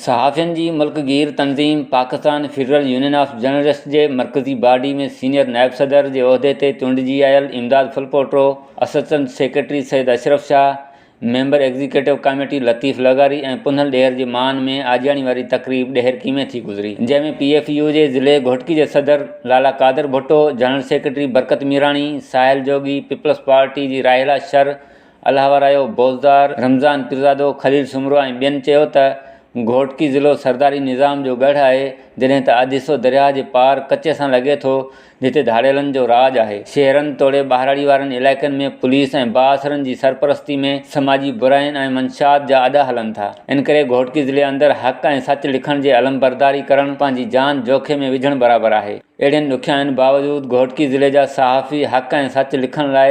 صحافين جي ملڪ گير تنظيم Pakistan federal union of journalists جي مرڪزي باڊي ۾ سينيئر نائب صدر جي عهدي تي چونڊجي آيل Imdad Phulpoto, assistant secretary Syed Ashraf Shah, member executive committee Latif لغاري ۽ پنهل ڏيهر جي مان ۾ آجياڻي واري تقريب ڏهرڪي ۾ ٿي گذري، جنهن ۾ پي ايف يو جي ضلعي گهوٽڪي جي صدر Lala Qadir Bhutto, general secretary Barkat Mirani, Sahil Jogi, Peoples Party جي راحيلا شر، الاهه رايو بوزدار، رمضان پيرزادو، خليل سومرو ۽ ٻين چيو ته گهوٽڪي ضلعو سرداري نظام جو ڳڙهه آهي، جڏهن ته آڌيسو درياهه جي پار ڪچي سان لڳي ٿو، جتي ڌاڙيلن جو راڄ آهي. شهرن توڙي ٻهراڙي وارن علائقن ۾ پوليس ۽ بااثرن جي سرپرستي ۾ سماجي براين ۽ منشيات جا اڏا هلن ٿا، ان ڪري گهوٽڪي ضلعي اندر حق ۽ سچ لکڻ جي علمبرداري ڪرڻ پنهنجي جان جوکي ۾ وجهڻ برابر آهي. اهڙين ڏکيائين باوجود گهوٽڪي ضلعي جا صحافي حق ۽ سچ لکڻ لاء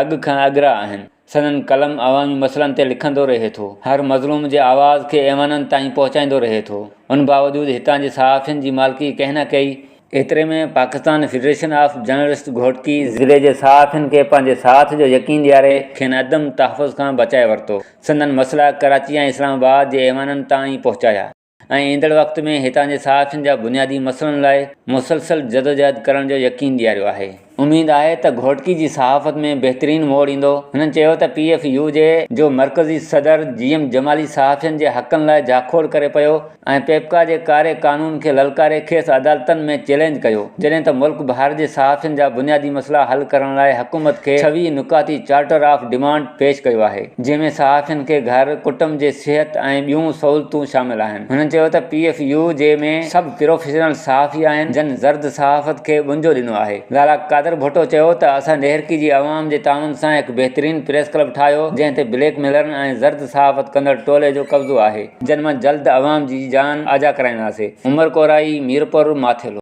اڳ کان اڳرا آهن. سندن قلم عوامي مسئلن تي لکندو رهي ٿو. هر مظلوم جي آواز کي ايوانن تائين پهچائيندو رهي ٿو. ان باوجود هتان جي صحافين جي مالڪي ڪنهن نه ڪئي. ايتري ۾ Pakistan federation of journalist Ghotki ضلعي جي صحافين کي پنهنجي ساٿ جو يقين ڏياري کين عدم تحفظ کان بچائي ورتو. سندن مسئلا ڪراچي ۽ اسلام آباد جي ايوانن تائين پهچايا. ۽ ايندڙ وقت ۾ هتان جي صحافين جا بنيادي مسئلن لاء مسلسل جدوجهد ڪرڻ جو يقين ڏياريو آهي. اميد آهي ته گهوٽڪي جي صحافت ۾ بهترين موڙ ايندو. هنن چيو ته پي ايف يو جي جو مرڪزي صدر جي ايم جمالي صحافين جي حقن لاء جاکوڙ ڪري پيو ۽ پيپڪا جي ڪاري قانون کي للڪاري کيس عدالتن ۾ چئلينج ڪيو جڏهن ته ملڪ ڀر جي صحافين جا بنيادي مسئلا حل ڪرڻ لاء حڪومت کي ڇويهه نڪاتي چارٽر آف ڊيمانڊ پيش ڪيو آهي، جنهن ۾ صحافين کي گهر، ڪٽنب جي صحت ۽ ٻيون سهولتون شامل آهن. هنن چيو ته پي ايف يو جي ۾ سڀ پروفيشنل صحافي آهن، جن زرد صحافت کي ٻنجو ڏنو آهي. لالا قادر ڀٽو چيو ته اسان ڏيهرڪي جي عوام جي تعاون سان هڪ بهترين پريس ڪلب ٺاهيو، جنهن تي بليڪ ميلرن ۽ زرد صحافت ڪندڙ ٽولي جو قبضو آهي، جن مان جلد عوام جي جان آجا ڪرائينداسين، عمر ڪورائي، ميرپور، ماٿيلو.